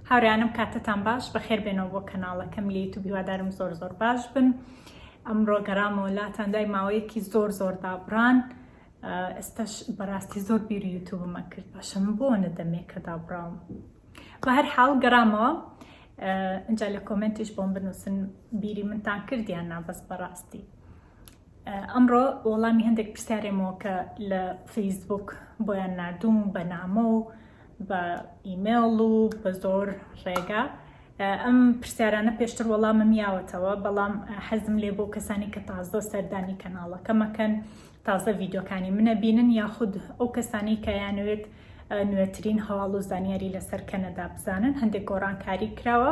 هاورێیانم کاتتان باش بەخێر بێنەوە بۆ کەناڵەکەم لە یوتوب هیوادارم زۆر زۆر باش بن ئەمڕۆ گەرامەوە لاتان دوای ماوەیەکی زۆر زۆر دابڕان ئێستاش بەڕاستی زۆر بیری یوتوبمە کرد باشم بۆ نەدەمێکە دابڕاوم بە هەر حاڵ گەرامەوە ئەجا لە کۆمنتیش بۆم بنووسن بیری منتان کردیان نابەس بەڕاستی ئەمڕۆ وەڵامی هەندێک پرسیارێمەوە کە لە فەیسبوک بۆیان نردوم بە نامە و بە ئیمێڵ و بە زۆر ڕێگا ئەم پرسیارانە پێشتر وەڵامم یاوەتەوە بەڵام حەزم لێ بۆ کەسانی کە تازە سەردانی کەناڵەکەمەکەن تازە ڤیددیوکانی منە بینن یاخود ئەو کەسانی کە یانوێت نوێترین هەواڵ و زانیاری لەسەر کەنەدا بزانن هەندێک گۆڕانکاری کراوە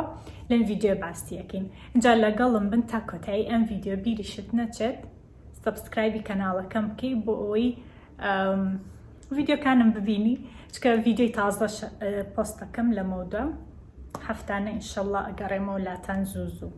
لەم ڤیددیو باستیەکەین اینجا لەگەڵم بن تا کۆتایی ئەم ڤیددیو بیریشت نەچێت سبسکرایبی کەناڵەکەم بکەی بۆ ئەوەی ڤیددیوکانم ببینی چکە ڤیددیوی تازە پۆستەکەم لە مەودا هەفتانە ئینشەڵە ئەگەڕێمەوە لاتان زوو زوو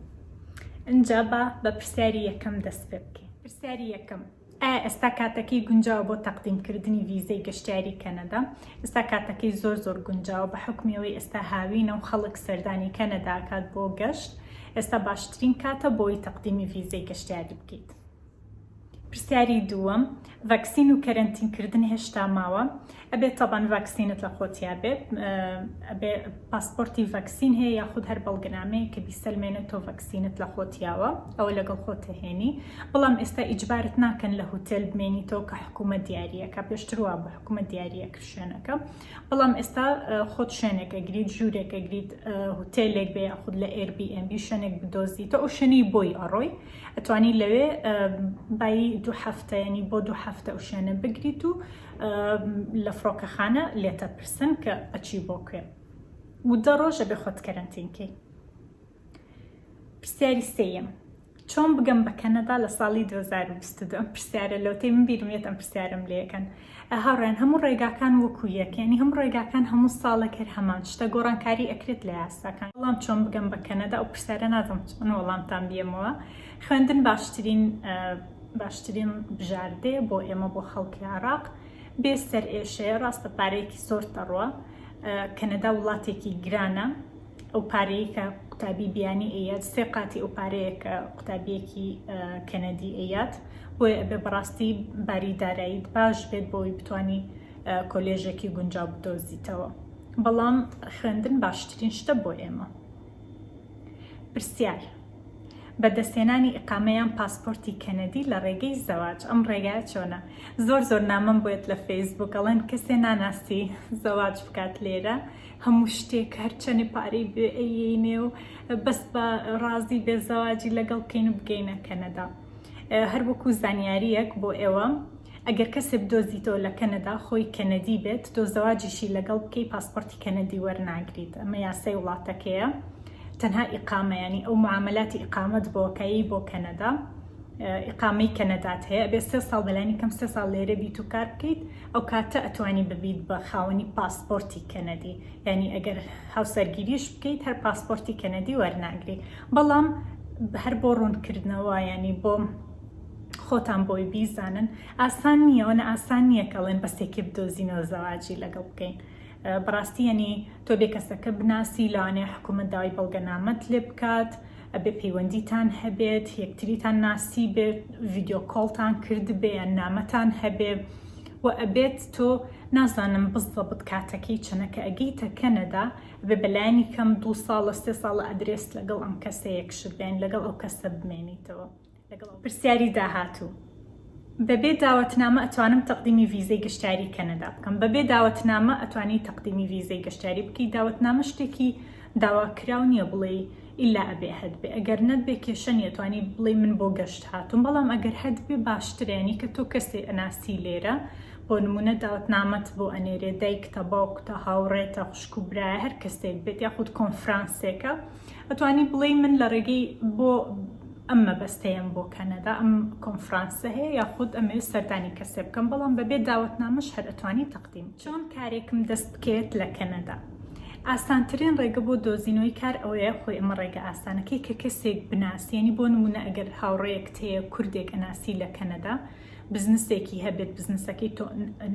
اینجا بە بە پرسیاری یەکەم دەست پێ بکەین پرسیاری یەکەم ئایا ئێستا کاتەکەی گونجاوە بۆ تەقدیم کردنی ڤیزەی گەشتیاری کەنەدا؟ ئێستا کاتەکەی زۆر زۆر گونجاوە بە حوکمی ئەوەی ئێستا هاوینە و خەڵک سەردانی کەنەدا ئەکات بۆ گەشت ئێستا باشترین کاتە بۆی تەقدیمی ڤیزەی گەشتیاری بکەیت. پرسیاری دووەم، ڤەکسین و کەرەنتین کردن هێشتا ماوە؟ ئەبێت تەبەن ڤاکسینت لە خۆتیا بێت ئەبێ پاسپۆرتی ڤاکسین هەیە یاخود هەر بەڵگەنامەیە کە بیسەلمێنێت تۆ ڤاکسینت لە خۆتیاوە ئەوە لەگەڵ خۆتهێنی بەڵام ئێستا ئیجبارت ناکەن لە هوتێل بمێنی تۆ کە حکوومە دیارریەکە پێشتروا بە حکوومە دیارریەک شوێنەکە بەڵام ئێستا خۆت شوێنێکە گریت ژوورێکە گریت هوتێلێک بێ یاخود لە ئێربیMB شوێنێک بدۆزی تۆ ئەو شوێنی بۆی ئەڕۆی ئەتوانی لەوێ بای دوو هەفتەیەنی بۆ دوو هەفتە ئەو شوێنە بگریت و لە فڕۆکەخانە لێتەپرسن کە ئەچی بۆ کوێ و دە ڕۆژە بێ خۆت کەرەنتینکەی پرسیاری سێیەم چۆن بگەم بە کەنەدا لە ساڵی 2022 ئەم پرسیارە لەوتەی من بیرمێت ئەم پرسیارم لەکەن هاوڕێن هەموو ڕێگاکان وەکو یەکەنی هەموو ڕێگاکان هەموو ساڵەکەر هەمان شتە گۆڕانکاری ئەکرێت لە یاساکان وەڵام چۆن بگەم بە کەنەدا ئەو پرسیارە نازم چۆن وەڵامتان بیەمەوە خوێندن باشترین باشترین بژاردەیە بۆ ئێمە بۆ خەڵکی عراق بێ سەر ئێشەیە ڕاستە پارەیەکی زۆر دەڕوە کەنەدا وڵاتێکی گرانە ئەو پارەیە کە قوتابی بیانی ئەیات سێ قاتی ئەو پارەیە کە قوتابیەکی کەنەدی ئەیات بۆیە ئەبێ بەڕاستی باری داراییت باش بێت بۆی بتانی کۆلێژێکی گونجاو بدۆزیتەوە بەڵام خوێندن باشترین شتە بۆ ئێمە پرسیار، بە دەستهێنانی ئیقامە یان پاسپۆرتی کەنەدی لە ڕێگەی زەواج ئەم ڕێگایە چۆنە؟ زۆر زۆر نامەم بۆێت لە فەیسبووک ئەڵێن کەسێ ناناسی زەواج بکات لێرە هەموو شتێک هەرچەنێ پارەی بێ ئەیینێ و بەس بە ڕازی بێ زەواجی لەگەڵ بکەین و بگەینە کەنەدا. هەر وەکو زانیارییەک بۆ ئێوە ئەگەر کەسێ بدۆزیتەوە لە کەنەدا خۆی کەنەدی بێت تۆ زەواجیشی لەگەڵ بکەی پاسپۆرتی کەنەدی وەرناگریت ئەمە یاسای وڵاتەکەیە تەنها ئیقامە ینی ئەو معاملاتی ئیقامەت بۆکەی بۆ کەنەدا ئیقامەی کەنەدات هەیە بێ سێ ساڵ بەلانی کەم سێ ساڵ لێرە بیت و کار بکەیت ئەو کاتە ئەتوانی ببیت بە خاوەنی پاسپۆرتی کەنەدی ینی ئەگەر هاوسەرگیریش بکەیت هەر پاسپۆرتی کەنەدی وەرناگری بەڵام هەر بۆ ڕوونکردنەوە یعنی بۆ خۆتان بۆی بیزانن ئاسان نییە وەنە ئاسان نییە کەڵێن بەسێکی بدۆزینەوە زەواجی لەگەڵ بکەین بەڕاستی یعنی تۆ بێ کەسەکە بناسی لەوانەیە حکوومەت داوای بەڵگەنامەت لێ بکات ئەبێ پەیوەندیتان هەبێت یەکتریتان ناسی بێت ڤیددیو کۆڵتان کرد بێ یان نامەتان هەبێ و ئەبێت تۆ نازانم بزڵە بت کاتەکەی چەنەکە ئەگەیتە کەنەدا ئەبێ بە لانی کەم دوو ساڵە سێ ساڵە ئەدرێس لەگەڵ ئەم کەسە یەکشت بێن لەگەڵ ئەو کەسە بمێنیتەوە لەگەڵ پرسیاری داهاتوو بەبێ داوەتنامە ئەتوانم تەقدیمی ڤیزەی گەشتاری کەنەدا بکەم بەبێ داوەتنامە ئەتوانی تەقدیمی ڤیزەی گەشتاری بکەی داوەتنامە شتێکی داواکراو نییە بڵێ ئیلا ئەبێ هەدبێ ئەگەر نەتبێ کێشە نیە توانی بڵێ من بۆ گەشت هاتووم بەڵام ئەگەر هەدبێ باشترێنی کە تۆ کەسێ ئەناسی لێرە بۆ نمونە داوتنامەت بۆ ئەنێرێ دایکتە باوکتە هاوڕێتە خوشک و برایە هەر کەسێک بێت یاخود کۆنفرانسێکە ئەتوانی بڵێی من لە ڕێگەی بۆ ئەم مەبەستەیەم بۆ کەنەدا ئەم کۆنفرانسە هەیە یاخود ئەمەوێت سەردانی کەسێ بکەم بەڵام بەبێ داوەتنامەش هەر ئەتوانی تەقدیم چۆن کارێکم دەست بکەوێت لە کەنەدا ئاسانترین ڕێگە بۆ دۆزینەوەی کار ئەوەیە خۆی ئەمە ڕێگە ئاسانەکەی کە کەسێک بناسیێنی بۆ نمونە ئەگەر هاوڕێیەک تەیە کوردێک ئەناسی لە کەنەدا بزنسێکی هەبێت بزنسەکەی تۆ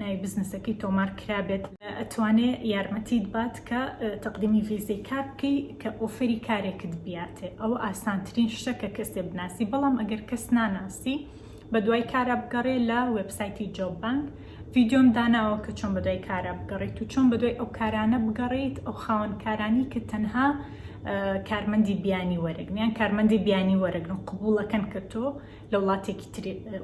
ناوی بزنسەکەی تۆمار کرابێت ئەتوانێ یارمەتیت بات کە تەقدیمی ڤیزەی کار بکەی کە ئۆفەری کارێکت بیاتێ ئەوە ئاسانترین شتە کە کەسێ بناسی بەڵام ئەگەر کەس ناناسی بە دوای کارا بگەڕێ لە وێبسایتی جۆب بانک ڤیددیۆم داناوە کە چۆن بە دوای کارا بگەڕیت و چۆن بە دوای ئەو کارانە بگەڕیت ئەو خاوەن کارانی کە تەنها کارمەندی بیانی وەرەگن یان کارمەندی بیانی وەرەگرن قبولەکەن کە تۆ لە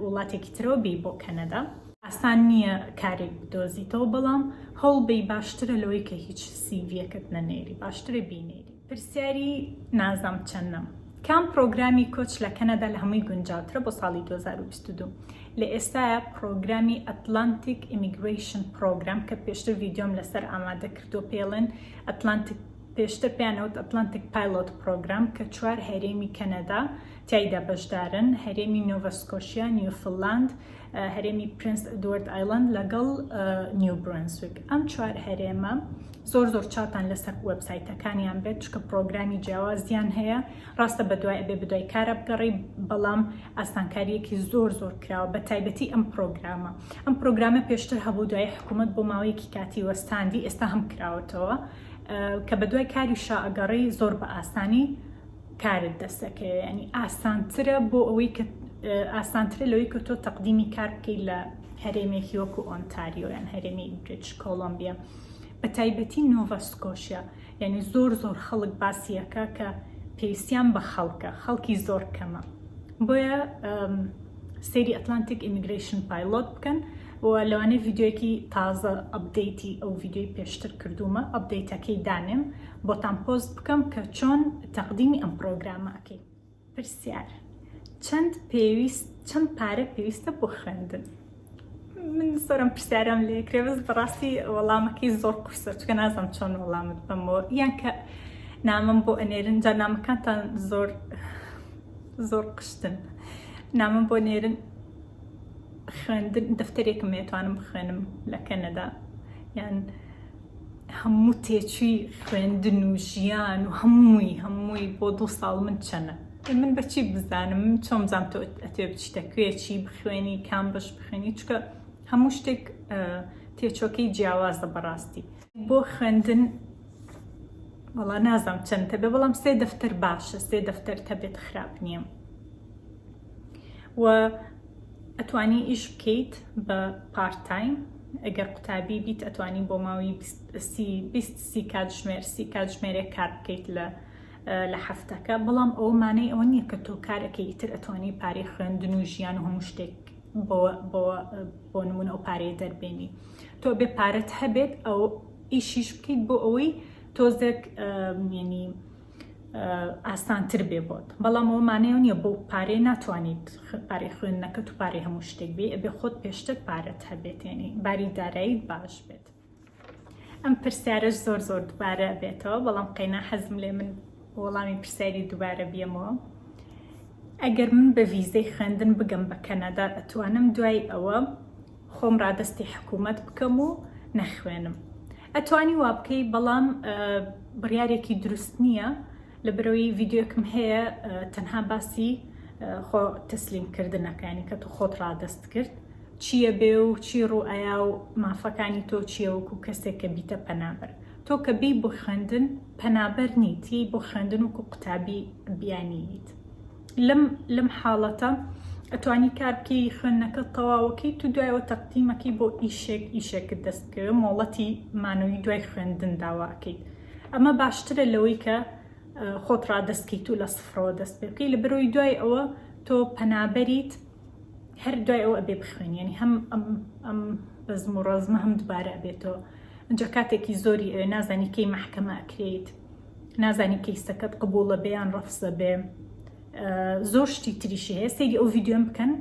وڵاتێکی ترەوە بێی بۆ کەنەدا ئاسان نییە کارێک بدۆزیتەوە بەڵام هەوڵبەی باشترە لەوەی کە هیچ سیڤیەکەت نەنێری باشترە بینێری پرسیاری نازام چەندم کام پرۆگرامی کۆچ لە کەنەدا لە هەمووی گونجاوترە بۆ ساڵی 2022 لە ئێستاە پرۆگرامی ئەتلانتیک ئیمیگریشن پرۆگرام کە پێشتر ڤیددیۆم لەسەر ئامادە کردو پێڵێن ئەتلانتیک پێشتر پێیان ئەوت ئەتلانتیک پایلۆت پرۆگرام کە چوار هەرێمی کەنەدا تیایدا بەشدارن، هەرێمی نۆڤا سکۆشیا، نیوفللاند، هەرێمی پرنس ئەدوارد ئایلاند لەگەڵ نیو برونسویک. ئەم چوار هەرێمە زۆر زۆر چاتان لەسەر وێبسایتەکانیان بێت چکە پرۆگرامی جیاوازیان هەیە ڕاستە بەدوای ئەبێ بدوای کارە بگەڕی بەڵام ئاسانکاریەکی زۆر زۆر کراوە بە تایبەتی ئەم پرۆگرامە ئەم پرۆگرامە پێشتر هەبوو دوای حکوومەت بۆ ماوەیەکی کاتی وەستاندی ئێستا هەم کراوەتەوە کە بە دوای کاری شا ئەگەڕێی زۆر بە ئاسانی کارت دەستەکەی ینی ئاسانترە بۆ ئەوەی کە ئاسانترە لەوەی کە تۆ تەقدیمی کار بکەیت لە هەرێمێکی وەکو ئۆنتاریۆیان هەرێمی بریچ کۆلمبیا بە تایبەتی نۆڤەسکۆشیا یعنی زۆر زۆر خەڵک باسیەکە کە پێویستیان بە خەڵکە خەڵکی زۆر کەمە بۆیە سری ئەتلانتیک ئیمیگریشن پایلۆت بکەن و لەوانەیە ڤیدیۆیەکی تازە ئەپدەیتی ئەو ڤیدیۆی پێشتر کردوومە ئەپدەیتەکەی دانێم بۆتان پۆست بکەم کە چۆن تەقدیمی ئەم پڕۆگرامە ئەکەی. پرسیار، چەند پێویست چەند پارە پێویستە بۆ خوێندن؟ من زۆرم پرسیارم لێ کرێ بەس بەڕاستی وەڵامەکەی زۆر قورسە چکە نازم چۆن وەڵامت بەمەوە یان کە نامم بۆ ئەنێرن جا نامەکانتان زۆر زۆر قشتن نامم بۆ نێرن خوێندن دەفتەرێکم نێتوانم بخوێنم لە کەنەدا یان هەموو تێچووی خوێندن و ژیان و هەمووی هەمووی بۆ دوو ساڵ من چەنە من بەچی بزانم چۆم زانام تۆ ئەتێ بچیتە کوێچی بخوێنی کام بەش بخوێنی چکە هەموو شتێک تێچۆکەی جیاوازە بەڕاستی بۆ خوێندن وەڵا نازانم چەند تەبێ بەڵام سێ دەفتەر باشە سێ دەفتەر تەبێت خراپ نییە و ئەتوانی ئیش بکەیت بە پارت تایم ئەگەر قوتابی بیت ئەتوانی بۆ ماوەی سی کاتژمێر سی کاتژمێرێک کار بکەیت لە لە هەفتەکە بەڵام ئەوە مانەی ئەوە نییە کە تۆ کارەکەی ئیتر ئەتوانی پارەی خوێندن و ژیان و هەموو شتێک بۆ نمونە ئەو پارەیە دەربێنی تۆ بێ پارەت هەبێت ئەو ئیشیش بکەیت بۆ ئەوەی تۆزێک ینی ئاسانتر بێ بۆت بەڵام ئەوە مانای ئەو نییە بۆ پارەی ناتوانیت پارەی خوێندنەکەت و پارەی هەموو شتێک بێ ئەبێ خۆت پێشتر پارەت هەبێت یعنی باری داراییت باش بێت ئەم پرسیارەش زۆر زۆر دوبارە بێتەوە بەڵام قەینا حەزم لێ من وەڵامی پرسیاری دوبارە بیەمەوە ئەگەر من بە ڤیزەی خوێندن بگەم بە کەنەدا ئەتوانم دوای ئەوە خۆم ڕادەستی حکومەت بکەم و نەخوێنم ئەتوانی وابکەی بەڵام بڕیارێکی دروست نییە لە برەوەی ڤیددیوکم هەیە تەنها باسی خۆ تەسلیم کردنەکانی کە تو خۆت ڕادەست کرد چییە بێ و چی ڕوئایا و مافەکانی تۆ چییە وەکو کەسێک کە بیتە پەنابەر تۆ کە بی بۆ خوێندن پەنابەر نیتی بۆ خوێندن وکو قوتابی بیانیت لەم لەم حاڵەتە ئەتوانی کار بکەی خوێندنەکەت تەواوەکەی تو دوایەوە تەقدیمەکەی بۆ ئیشێک ئیشێکت دەست بکەوێ مۆڵەتی مانەوەی دوای خوێندن داواکەیت ئەمە باشترە لەوەی کە خۆت ڕادەستکەیت و لە سفرەوە دەست پێ بکەی لە بەرەوەی دوای ئەوە تۆ پەنابەریت هەر دوای ئەوە ئەبێ بخوێن یعنی هەم ئەم ئەم بەزم و ڕەزمە هەم دوبارە ئەبێتەوە ئەجا کاتێکی زۆری ئەوێ نازانی کەی محکەمە ئەکرێیت نازانی کەیسەکەت قبوڵە بێ یان ڕەفزە بێ زۆر شتی تریشی هەیە سەیری ئەو ڤیددیۆم بکەن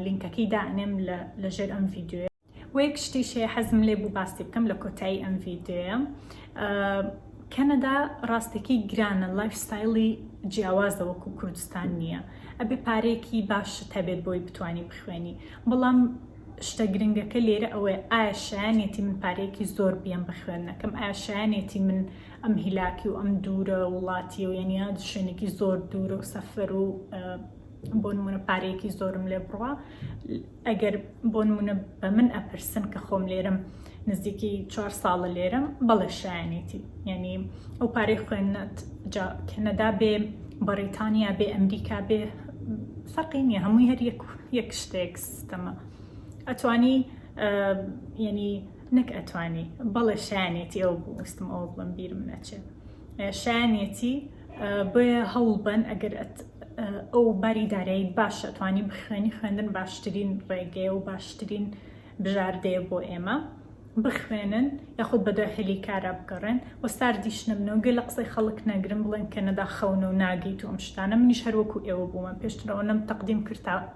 لینکەکەی دانێم لە ژێر ئەم ڤیددیوە وەیەک شتی شەیە حەزم لێ بوو باسی بکەم لە کۆتایی ئەم ڤیددیوە کەنەدا ڕاستێکی گرانە لایف ستایلی جیاوازە وەکو کوردستان نییە ئەبێ پارێکی باشت هەبێت بۆی بتانی بخوێنی بەڵام شتە گرنگەکە لێرە ئەوەیە ئایا شایانێتی من پارێکی زۆر بیان بە خوێندنەکەم ئاشایانێتی من ئەم هیلاکی و ئەم دوورە وڵاتیە و یەنیا شوێنێکی زۆر دوورە و سەفەر و بۆ نمونە پارەیەکی زۆرم لێ بڕە ئەگەر بۆ نمونە بە من ئەپرسن کە خۆم لێرم نزیکی چوار ساڵە لێرم بەڵێ شایەنێتی یعنی ئەو پارەی خوێندنەت جا کەنەدا بێ بەڕیتانیا بێ ئەمریکا بێ فەرقی نییە هەمووی هەر یەک شتێک سیستەمە ئەتوانی یعنی نەک ئەتوانی بەڵێ شایەنێتی ئەو بوو وستم ئەوە بڵم بیرم نەچێت شایەنێتی بۆیە هەوڵبەن ئەگەر ئەو باری دارایی باشە توانی بخوێنی خوێندن باشترین ڕێگەیە و باشترین بژاردەیە بۆ ئێمە بخوێنن یاخود بەدوای هەلی کارا بگەڕێن و ساردیش نەبنەوەگە لە قسەی خەڵک نەگرن بڵێن کە نەدا خەونە و ناگەیت و ئەم شتانە منیش هەروەکو ئێوە بوومە پێشترەوە نەم تەقدیم کرد تا